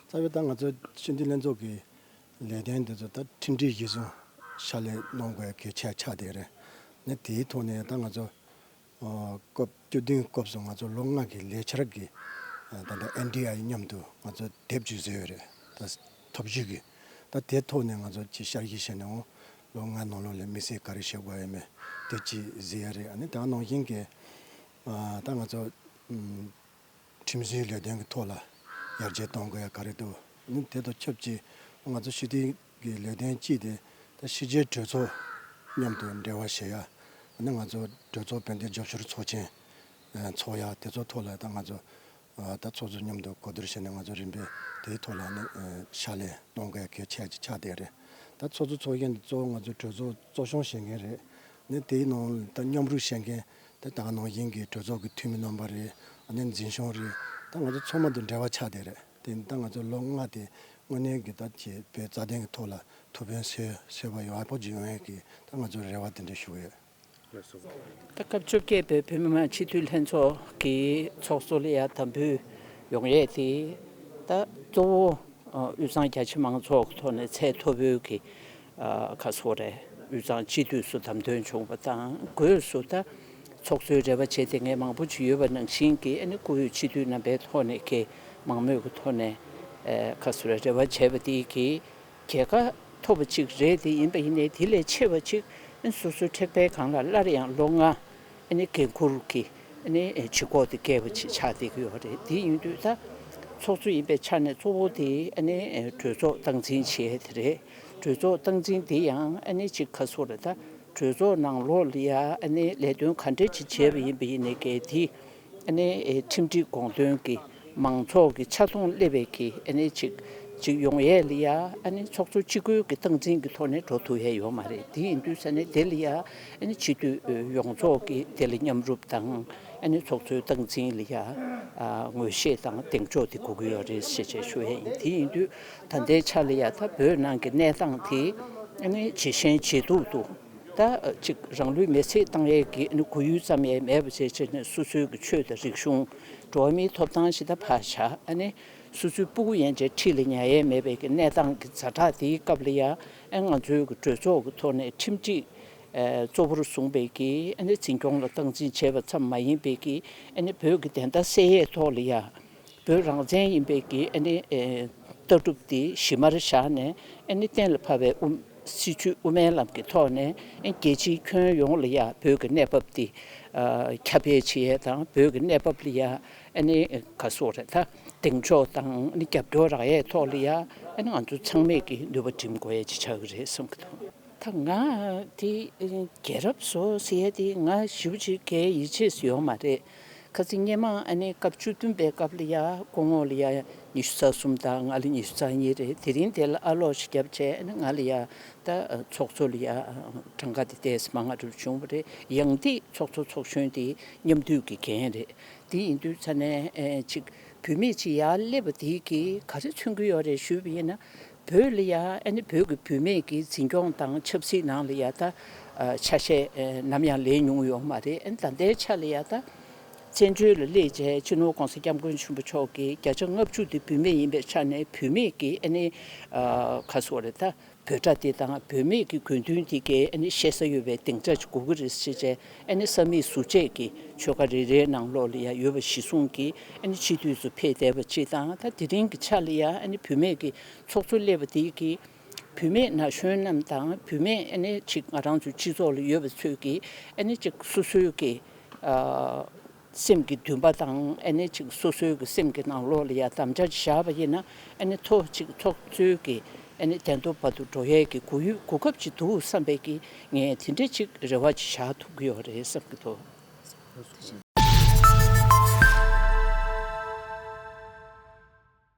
རྩ་བའི་ད་ང་ཚོ་ཕྱི་འཐེན་ལྷན་ཚོགས་ཀྱི་ལས་དོན་འདི་ཚོ་ད་ཁྲིམས་སྒྲིག་གཞི་བཟུང་ཕྱག་ལས་གནང་དགོས་གལ་ཆེ་ཆགས་བསྡད་རེད། ནི་དེའི་ཐོག་ནས་ད་ང་ཚོ་སྐབས་བཅུ་བདུན་སྐབས་སུ་ང་ཚོ་ལོ་ལྔ་གི་ལས་འཆར་གྱི་ད་ལྟ་ཨེན་ཀྲི་ཨའི་མཉམ་དུ་ང་ཚོ་དེབ་བཅུ་བཟོས་ཡོད་རེད་ད་ཐོབ་བཞུགས་གི། ད་དེ་ཐོག་ནས་ང་ཚོ་ཅི་ཤར་གཞི་བྱས་ནས་འོང་ལོ་ལྔའི་ནང་ལོགས་ལས་མི་སེར་ག་རེ་བྱེད་དགོས་ཡོད་མེད་དེ་ཅི་བཟོས་ཡ་རེད་ཨ་ནི་ད་ནང་བཞིན་གྱི་ད་ང་ཚོ། ཁྲིམས་བཟོའི་ལས་དོན་གྱི་ཐོག་ལ་ཡར་རྒྱས་གཏོང་དགོས་ཡ་ག་རེད་དོ། དེ་དང་ཆབས་ཅིག་ང་ཚོ་ཕྱི་དོན་གྱི་ལས་དོན་ཅིག་དེ་ད་ཕྱི་རྒྱལ་གྲོས་ཚོགས་མཉམ་དུ་འབྲེལ་བ་བྱེད་ཡ། ང་ཚོ་གྲོས་ཚོགས་བོད་འདི་ཇོ་ཤོར་ཚོགས་ཆེན་འཚོགས་ཡ་དེ་ཚོ་ཐོག་ལ་ད་ང་ཚོ་ད་ཚོགས་ཚོགས་མཉམ་དུ་གོ་བསྡུར་བྱས་ནས་ང་ཚོ་རིམ་པས་དེའི་ཐོག་ལ་ཕྱག་ལས་གཏོང་དགོས་ཡ་གལ་ཆེ་གི་ཆགས་བསྡད་རེད། ད་ཚོགས་ཚོགས་ཚོགས་མཁན་དེ་གཙོ་བོ་ང་ཚོ་གྲོས་ཚོགས་གཙོ་སྐྱོང་བྱེད་མཁན་རེད། དེའི་ནང་ད་མཉམ་རུབ་བྱེད་མཁན་དེ་ད་ནང་བཞིན་གྱི་གྲོས་ཚོགས་ཀྱི་འཐུས་མི་རྣམ་པ་རེད་ནས་འཛིན་བྱུང་རེད་ད་ང་ཚོ་ཚོགས་མ་དུ་འབྲེལ་བ་ཆགས་བསྡད་རེད་དེ་ད་ང་ཚོ་ལོ་ལྔ་དེ་དངོས་གནས་ཀྱི་ད་བྱས་པའི་རྩ་དོན་གྱི་ཐོག་ལ་ཐུགས་ཕན་སོས་པ་ཡག་པོ་བྱུང་བས་ཀྱི་ད་ང་ཚོ་རེ་བ་དེ་འདྲ་ཞུ་ཡོད། ད་སྐབས་བཅོ་བརྒྱད་པའི་བོད་མི་མང་སྤྱི་འཐུས་ལྷན་ཚོགས་ཀྱི་ཚོགས་གཙོ་ལ་ཡག་དམ་འབུལ་ཡོང་ཡས་ཏེ་ད་གཙོ་བོ་དབུས་གཙང་རྒྱ་ཆེ་མང་ཚོགས་ཐོག་ནས་ཚད་མཐོ་པོའི་གྱི་ཁ་སོ་རས་དབུས་གཙང་སྤྱི་འཐུས་སུ་བདམས་ཐོན་བྱུང་བ་དང་སྒོས་སུ་ད་ཚོགས་གཙོའི་རེ་བ་བྱེད་དེ་ངས་མང་པོ་བྱུས་ཡོད་པ་ནང་བཞིན་གྱི་ཨ་ནི་བཀུར་འོས་སྤྱི་འཐུས་རྣམ་པའི་ཐོག་ནས་ཀྱི་མང་མོས་ཀྱི་ཐོག་ནས་ཁ་སོ་རས་རེ་བ་བྱས་པ་དེ་གྱིས་རྒྱལ་ཁ་ཐོབ་པ་ཅིག་རེད་དེ་ཡིན་པ་ཡིན་ནས་དེ་ལས་ཆེ་བ་ཅིག་ཨ་ནི་སོ་སོའི་མཁྲེགས་དཔལ་གང་ལ་སླར་ཡང་ལོ་ལྔ་ཨ་ནི་འགན་འཁུར་གྱིས་ཨ་ནི་ཇུས་འགོག་དེ་བསྐལ་བ་ཅིག་ཆགས་བསྡད་ཀྱི་ཡོད་རེད་དེ་ཡིན་དུས་ད་ཚོགས་གཙོ་ཡིན་པའི་ཆ་ནས་གཙོ་བོ་དེ་ཨ་ནི་གྲོས་ཚོགས་སྟངས་འཛིན་བྱེད་དེ་རེད། གྲོས་ཚོགས་སྟངས་འཛིན་འདི་ཡང་ཨ་ནེ་ཅིག་ཁ་སོ་རེད་ད་གྲོས་ཚོགས་ནང་ལོག་ལི་ཡ་ཨ་ནེ་ལས་དོན་ག་འདྲེ་ཅིག་བྱས་པ་ཡིན་པ་ཡིན་ནའི་གལ་ཏི་ཨ་ནེ་ཁྲིམས་སྒྲིག་དགོངས་དོན་གི་མང་ཚོགས་ཀྱི་ཆ་མཐོང་སླེ་བའི་གི་ཨ་ནེ་ཅིག་ཅིག་ཡོང་ཡས་ལི་ཡ་ཨ་ནེ་ཚོགས་གཙོ་ཅི་དགོས་གི་སྟངས་འཛིན་གི་ཐོག་ནས་འགྲོ་ཐུ་ཡས་ཡོད་མ་རེད་དེ་ཡིན་དུས་ས་ནས་དེ་ལི་ཡ་ཨ་ནེ་སྤྱི་འཐུས་ཡོངས་རྫོགས་གི་དེ་ལ་མཉམ་རུབ་དང་ཨ་ནེ་ཚོགས་གཙོའི་སྟངས་འཛིན་ལི་ཡ་ངོས་ཤེས་དང་གདེང་འཇོག་དེ་དགོས་གི་ཡོད་རེད་ཤེས་བྱས་ཞུ་ཡས་ཡིན་དེ་ཡིན་དུས་ད་ལྟའི་ཆར་ལ་ཡ་ད་བོད་ནང་གི་གནས་སྟངས་དེ་ནི་ཇེ་ཞན་ཇེ་སྡུག་ཏུ་ད་ཅིག་རང་ལུས་མེར་བསྲེགས་བཏང་ཡས་ཀྱི་གོ་ཡུལ་ཙམ་ཡས་མེད་པ་ཇེ་ཆེར་ནས་སོ་སོའི་གི་ཆོས་དང་རིག་གཞུང་འགྲོ་བ་མིའི་ཐོབ་ཐང་ཞེ་ད་བར་ཆ་ནི་སོ་སོའི་སྤུ་གུ་ཡན་ཆད་ཁྲིད་ལ་ཉན་ཡས་མེད་པའི་གི་གནས་སྟངས་ཀྱི་རྫ་དྲག་དེའི་སྐབས་ལ་ཡ་ང་ཚོའི་གི་གྲོས་ཚོགས་ཀྱི་ཐོག་ནས་ཁྲིམས་སྒྲིག་གཙོ་བོར་བཟུང་པའི་གི་འཛིན་སྐྱོང་ལ་སྟངས་འཛིན་བྱས་པ་ཙམ་མ་ཡིན་པའི་གི་བོད་གི་བདེན་མཐའ་གསལ་ཡས་ཐོག་ལ་ཡ། བོད་རང་བཙན་ཡིན་པའི་གི་ཨ་ནི་ལྟ་གྲུབ་དེ་གཞི་མར་བཞག་ནས་ཨ་ནི་གཏན་ལ་ཕབ་པའི་སྲིད་བྱུས་དབུ་མའི་ལམ་གྱི་ཐོག་ནས་རྒྱལ་སྤྱིའི་ཁྱོན་ཡོངས་ལ་ཡང་བོད་ཀྱི་གནས་བབ་དེ་ཁྱབ་སྤེལ་བྱེད་ཡས་དང་བོད་ཀྱི་གནས་བབ་ལ་ཡང་ཨ་ནི་ག་སོགས་རེད་ད་གདེང་འཇོག་དང་ཨ་ནི་རྒྱབ་སྐྱོར་རག་ཡས་ཐོག་ལ་ཡང་ཨ་ནི་ང་ཚོ་ཚང་མས་གི་ནུས་པ་བསྒྲིམ་དགོས་ཡས་ཅིག་ཆགས་གི་རེད་བསམ་གི་འདུག། ད་ང་དེ་རྒྱལ་རབས་བཟོ་ཟེར་ཡས་དེ་ང་ཞིབ་ཅིག་གའི་ཡིད་ཆེས་སུ་ཡོང་མ་རེད། ཁ་ཚིག་སྙན་མ་ཨ་ནི་སྐབས་བཅུ་བདུན་པའི་སྐབས་ལ་ཡ་ཀོ་ངོ་ལ་ཡ་ཉི་ཤུ་རྩ་གསུམ་དང་ང་ལ་ཉི་ཤུ་རྩ་གཉིས་རེད་དེ་རིང་དེ་ལ་ཨ་ལོག་ཤི་རྒྱབ་བྱས་ཨ་ནི་ང་ལ་ཡ་ད་ཚོགས་གཙོ་ལ་ཡ་གྲངས་ཀ་དེ་དེས་མ་ང་རུ་བྱུང་བ་རེད་ཡང་འདི་ཚོགས་གཙོ་ཚོགས་གཞོན་དེ་མཉམ་འདུས་ཀྱི་འགན་རེད་དེ་ཡིན་དུས་ཚ་ནས་ཅིག་བུད་མེད་ཅིག་ཡར་སླེབས་པ་དེ་གིས་ག་རེ་མཚོན་གྱི་ཡོད་རེད་ཞུས་པ་ཡིན་ན་བོད་ལ་ཡ་ཨ་ནི་བོད་ཀྱི་བུད་མེད་ཀྱི་འཛིན་སྐྱོང་དང་ཆབ་སྲིད་ནང་ལ་ཡ་ད་ཆ་ཤས་ནམ་ཡང་ལས་མྱོང་ཡོད་མ་རེད་ཨ་ནི་ད་ལྟའི་ཆ་ལ་ཡ་ད་བཙན་བྱོལ་ལ་སླེབས་རྗེས་སྤྱི་ནོར ྋགོང་ས ྋསྐྱབས་མགོན་ཆེན་པོ་མཆོག་གིས་བརྒྱ་ཆ་ལྔ་བཅུ་དེ་བུད་མེད་ཡིན་པའི་ཆ་ནས་བུད་མེད་ཀྱི་ཨ་ནི་ཁ་སོ་རེད་ད་བོད་དགྲ་དེ་དང་བུད་མེད་ཀྱི་དགོས་འདུན་དེ་གས་ཨ་ནི་བཤད་ས་ཡོད་པའི་སྡིངས་ཆ་ཞིག་དགོས་ཀྱི་རེད་ཟེར་རྗེས་ཨ་ནི་ས་མིག་ཟུར་བཅད་ཀྱི་ཆོལ་ཁ་རེ་རེའི་ནང་ལོགས་ལ་ཡང་ཡོད་པ་གཞི་བཟུང་གིས་ཨ་ནི་ཕྱི་དུས་སུ་ཕེབས་བསྡད་པ་གཅིག་དང་ད་དེ་རིང་གི་ཆ་ལ་ཡང་ཨ་ནི་བུད་མེད་ཀྱི་ཚོགས་གཙོ་སླེབས་པ་དེས་ཀྱིས་བུད་མེད་ན་གཞོན་རྣམས་དང་བུད་མེད་ཨ་ནི་གཅིག་ང་རང་ཚོའི་སྤྱི་ཚོགས་ལ་ཡོད་པ་ཚོས་ཀྱིས་ཨ་ནི་གཅིག་སོ་སོའི་ཀྱི། སེམས་ཀྱི་འདུན་པ་དང་ཨེ་ནི་ཅིག་སོ་སོའི་གི་སེམས་ཀྱི་ནང་ལོགས་ལ་ཡང་དམ་བཅའ་བཞག་པ་ཡིན་ན་ཨེ་ནི་ཐོ་ཅིག་ཚོགས་གཙོའི་གི་ཨེ་ནི་གདན་ཐོབ་བར་དུ་འགྲོ་ཡས་གི་གུ་ཡུས་གུ་སྐབས་ཅིག་འདུག་བསམ་པས་གི་ངས་དེ་འདྲ་ཅིག་རེ་བ་ཅིག་བཞག་ཐུབ་གི་ཡོད་རེད་བསམ་གི་འདུག།